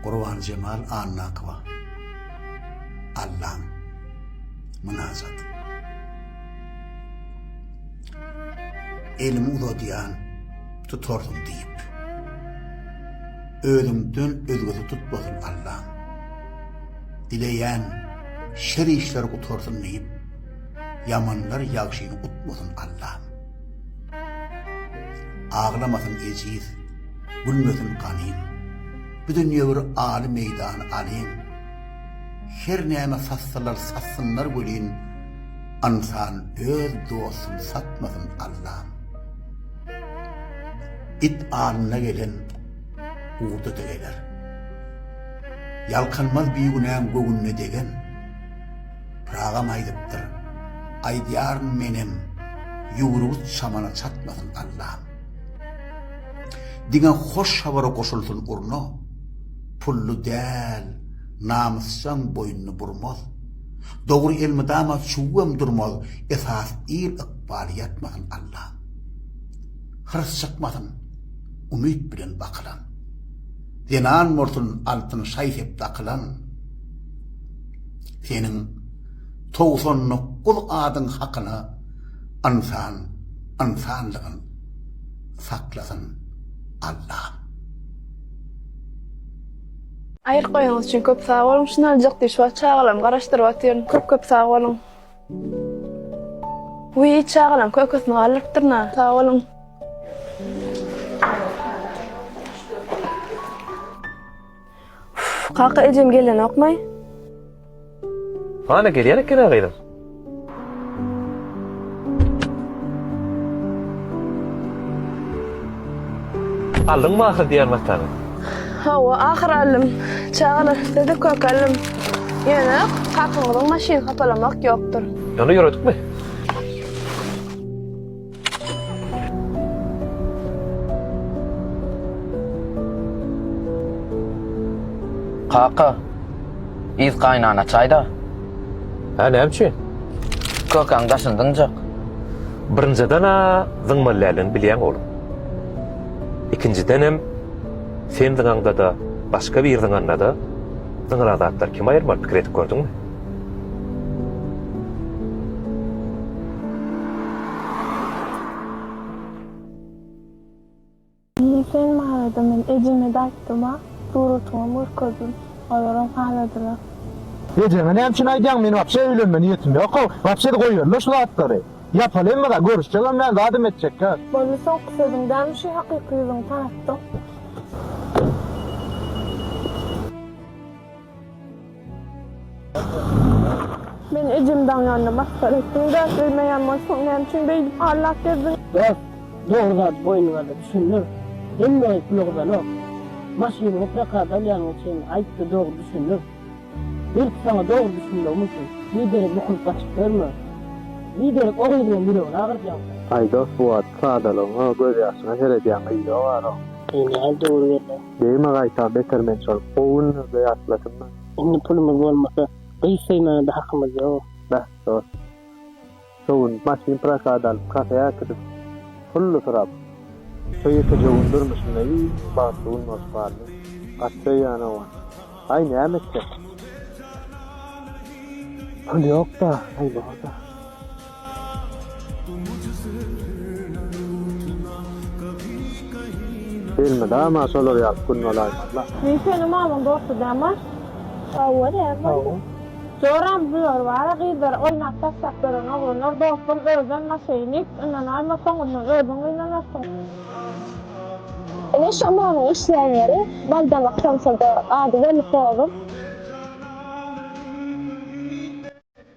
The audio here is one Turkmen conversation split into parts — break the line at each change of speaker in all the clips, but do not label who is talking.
Gurbanjemal Annakowa Allam mynajat Elimi uzadýan tutarsyň diýip Özüňden özgesi tutmasyn Allam Dileýän şer işler gutarsyn diýip Ýamanlar ýagşyny utmasyn Allam. Aglamasyn ejiz, gülmesin ganym. Bu dünýe bir aly meýdan alyn. Her näme satsalar satsynlar welin, ynsan öz dostun satmasyn Allam. It alnyna gelen urda-da geler. Ýalkanmaz bigünäň göwnüne degen. Pyragyam aýdypdyr, Aýdýaryn menem, ýüwrügiz çamana çatmasyn Allam. Diňe hoş habara goşulsyn urna, Pully däl, namysjaň boýnuny burmaz. Dogry elmydama çüwwem durmaz, Esas ir ykbaly ýatmasyn Allam. Hyrs çykmasyn, umyt bilen bakylan, Zenan bolsun altyn şaý-sep dakylan. Seniň togsan dokuz adyň hakyna ynsan ynsanlygyn saklasyn Allam.
Aýryp goýanyňyz üçin köp sag boluň şunaljak diş bar çagalarymy garaşdyryp otyryn köp köp sag boluň. Wiý çagalam kökesini galdyrypdyryn-a sag boluň. Kaka ejem gelenokmy? Hany
gelýän ekeni gyzym. Aldyňmy ahyr diýen matany? Hawa,
ahyr aldym. Çagalar üstede kök aldym. Ýöne kakaňyzyň maşyny hapalamak ýokdur. Ýöne ýöredikmi?
Kaka, yz gaýnana çaý-da. Hä,
näme üçin? Kökäň
daşyny zyňjak.
Birinjiden-ä zyňmalyläligini bilýäň, oglum. Ikinjidenem, sen zyňaňda-da, başga biri zyňanda-da zyňylan zatlar kim aýyrmaly, pikir edip gördüňmi?
Ine sen barada men ejeme-de aýtdym-a, suratyňam görkezdim. Olaram haladylar. Ejeňe
näme üçin aýdýaň, men wapşe öýlenme niýetim ýok-ow. Wapşe-de goýberle şu zatlary. Ýapaly hemme-zat, görüşjegem däl, zadam etjek däl. Boldy, soňky sözüň
däl, şu hakyky ýüzüňi tanatdyň. Men ejem daň ýanynda masgara etdim. Däp bilmeýän bolsaň, näme üçin beýdip hallap gezdiň? Dost, dogry
zady boýnuňaza düşündir. Hemme ulagdanok. Maşynyňy prokada alýanyňa çenli aýt-da dogry düşündir. Belki saňa dogry düşünmegim üçin, biderek bukulyp gaçyp ýörme. Biderek o gyzyňam ýüregini agyrjaňka. Aý dost bu wagt
sadalygyňa gözýaşyňa seredýän gyz ýok arok. Eý nädip ugur
berle. Degme gaýta beter
men şol. Gowy günlerde ýatlasynda. Indi pulumyz bolmasa.
Gyz söýmäne-de hakymyz ýok. Beh dost.
Şo gün maşyn prokada alyp kafeä äkidip pully sorap. Söý etejegim durmuşymda iň bagtly gün bolup galdy. Gaty söýýän oglan. Aý näme etjek. Pul ýokda, aý borda. Elmydama şolar ýaly gün bolaýsyn Allah. Men seniň mamyň
dosty däman. Hawa näme boldy. Joram bular bara gyzlary oýnap taşlap beren oglanlar dostum özem maşeýnik ynanaýma soňundan özüň gynanarsyň.
Ine şo mamyň işlän ýeri baldamak samsydy ady belli pozuň.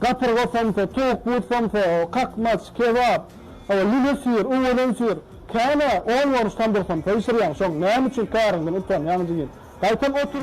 Gapyrga somsa, towuk but somsa, kakmaç, kebap, lüle syr, uwadan syr, känä on görnüş tamdyr somsa bişirýäň, şoň näme üçin käriňden utanýaň jigim? Gaýtam otur.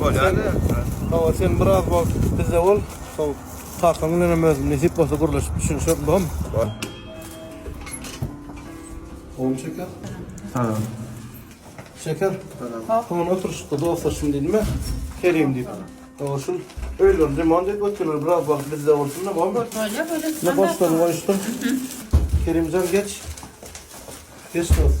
Bolýardy. Hawa,
sen biraz wagt bizde bol. Şol Takan bilen hem özüm nesip bolsa gürleşip düşünişeris, bolarmy? Bol. Oňa Şeker? Ha. Şeker? Ha. Soň oturyşykda dostlaşdym diýdimmi? Kerim diýip. Hawa, şul öýlerini remont edip otyrlar, biraz wagt bizde bolsun-da, bolarmy? Bolýar, bolýar. Ine, goşlaryny goýuşdyr. Kerimjan, geç. Geç, dost.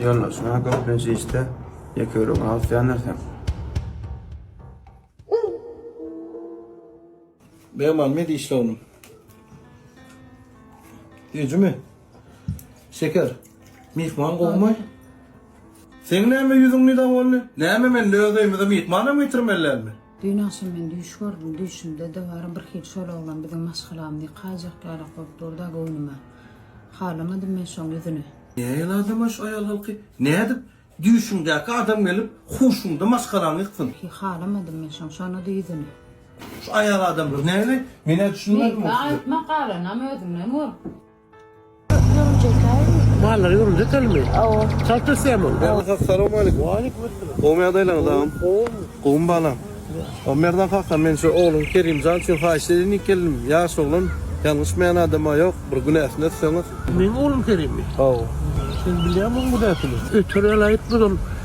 Ýollar şuna köplenç işde ýeke ýürek alyp ýanarsan.
Beýman ne diýişdi oglum? Düýjümi? Şeker, myhman gowmy? Seň näme ýüzüň nida boldy? Näme men öz öýümize myhmanam getirmelilermi? Düýn agşam men düýş
gördüm. Düýşümde dabara birhili şol oglan biziň maşgalamyzy ýykaýjak ýalak bolup dur-da göwnüme. Halamadym men şoň ýüzüni. Nägen adam-a
şu aýal halky? Nädip düýşüňdäki adam gelip huşuňda maşgalaňy ýyksyn? Hiý, halamadym men
şoň şona-da ýüzüni. Şu aýal
adamlar näleý? Men-ä düşünmedim o size. Meýtme, aýtma, galanam
özüňden gör.
Mallar ýöründe telmi? Awa. Çalt ösýämi? Assalamu aleykum.
Waleýkum assalam. Gowmy ýagdaýlaryňyz agam? Gowmy? Gowmy balam. O Merdan kaka men şu ogluň Kerimjan üçin haýyş edendik geldim. Ýaş oglan, ýalňyşmaýan adam-a ýok, bir günäsini ötseňiz. Meniň oglum Kerimmi?
Hawa. Sen bilýämiň günäsini? Öter ýaly aýytmaz ol.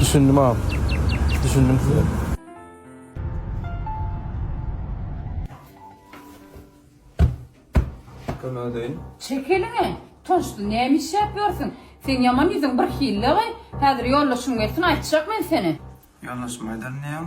Düşündim agam. Düşündim size.
Kömek edeýin. Çek eliňi.
Toşdy, näme iş ýapýarsyň? Seň ýaman ýüzüň bir hillegy. Häzir ýoldaşyň gelsin, aýtjak men seni. Ýoldaşyma aýdaryn
diýýäň.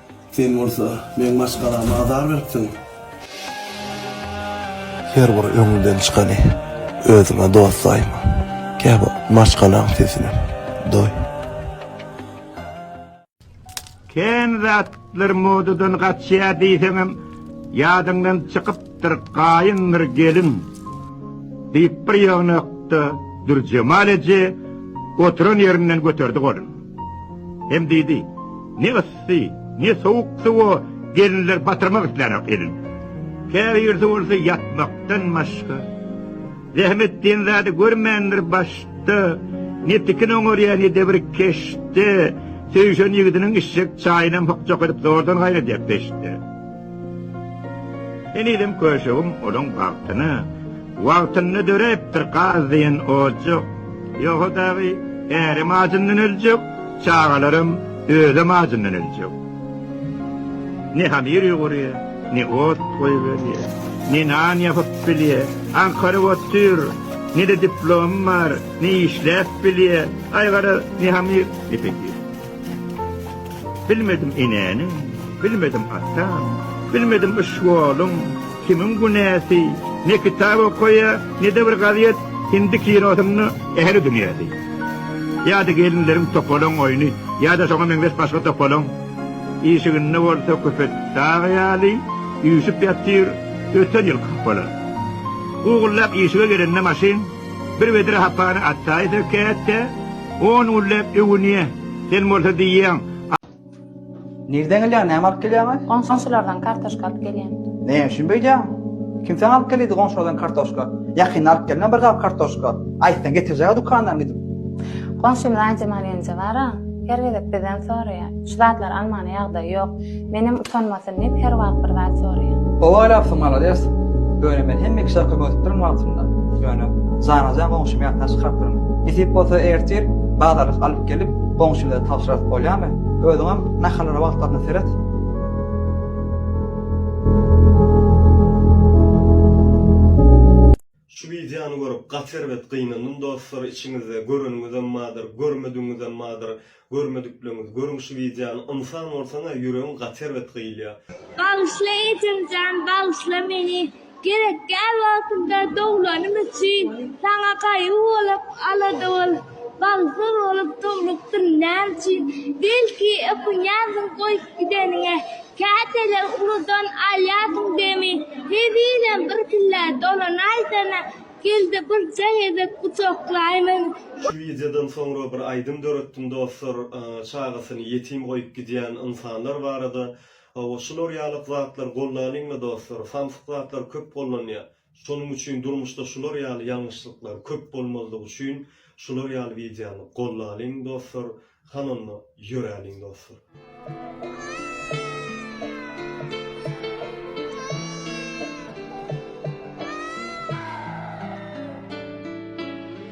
Sen bolsa meň maşgalama azar beripsiň. Her bir öňüňden çykany özüňe dost saýma. Käbir maşgalaň sesine doý.
Kän zatlar modadan gaçýar diýseňem ýadyňdan çykyp Ýaşapdyr gaýyňdyr gelin, diýip bir ýygnakda Dürjemal eje oturan ýerinden göterdi goluny. Hem diýdi, Ne yssy, ne sowuk suwa gelinler batyrmak islänok elin. Käbirisi bolsa ýatmakdan başga zähmet
diýen zady görmändir baş da ne tikin oňarýar ne de bir keşde söýşen ýigidiniň içjek çaýynam hyk-çok edip zordan gaýnadýar peşde. Henizem köşegim olaň bagtyna wagtynda döräpdir, gaz diýen ojak. Ýogsa dagy, ärem ajyndan öljek, çagalaram, özem ajyndan öljek. Ne hamir ýugurýa, ne ot goýberýä, ne nan ýapyp bilýä, aňkaryp otyr, ne-de diplomy bar, ne işläp bilýä, aý gara, ne hamir ýepedir. Bilmedim enäniň, bilmedim ataň, Bilmedim yşwolum, kimiň günäsi, Ne kitap okaýa, ne-de bir gazet, Hindi kinosynda ähli dünýäsi. Ýa-da gelinleriň topalaň oýny, Ýa-da şoňa meňzeş başga topalaň. Işiginde bolsa köpet dag ýaly, Üýşüp ýatyr öten ýylky hapalar. Gugullap işige gelende maşyn, Bir wedre hapany atdaýy sökäýt-de, on gülläp öwünýä. Sen bolsa diýýäň.
Nirden gelýäň, näme alyp gelýäň-aý? Goňşulardan kartoşka
alyp gelýän. Näme üçin beýdýäň?
Kim saňa alyp gelýdi goňşulardan kartoşka? Ýakynda alyp gelme bir gap kartoşka. Aýtsaň getirjeg-ä dükandan gidip. Goňşymyz
Aýjemal ýeňje bar-a, her gezek bizden soraýar. Şu zatlary almana ýagdaýy ýok. Menem utanmasyn diýip her wagt bir zat soraýan. Gowy
oýlapsyň malades. Ýöne men hemme kişi arka gödükdirin wagtynda. Ýöne janaja goňşymy ýatdan çykarypdyryn. Nesip bolsa ertir bazarlyk alyp gelip goňşylara tabşyrasy bolýamy? Özüňem nahallara wagtlaryna seret.
Şu wideony görüp gaty erbet gynandym dostlar içiňizde göreniňizem bardyr görmediňizem bardyr görmedikleňiz görüň şu wideony ynsan bolsaňa ýüregiň gaty erbet gyýylýa. Bagyşla
Ejemjan bagyşla meni gerekgär wagtymda dowlanym üçin saňa gaýgy bolup alada bolup bagsyz bolup durlupdym näme üçin belki ökünýändiň goýup gideniňe Käteler uludan alýarsyň demi, Hezilem birkillä dolanaýsana, Geldi birje gezek gujaklaýmyň. Şu wideodan
soňra bir aýdym döretdim dostlar çagasyny ýetim goýup gidýän ynsanlar barada. Hawa şular ýalyk zatlar gollanyňmy dostlar samsyk zatlar köp gollanýa. Şonuň üçin durmuşda şular ýaly ýalňyşlyklar köp bolmazlygy üçin şular ýaly wideony gollalyň dostlar, han onda ýöräliň dostlar.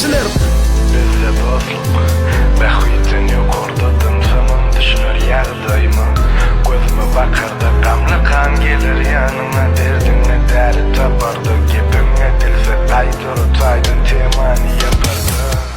Dilerdim. Bizde dostluk, bähbitden ýokarda Dynsamam düşüner ýagdaýyma Gözüme bakarda gamly kan Geler ýanyňa derdiňe däri taparda Gepiňe dilsiz aýdar ot aýdym Temany ýakarda.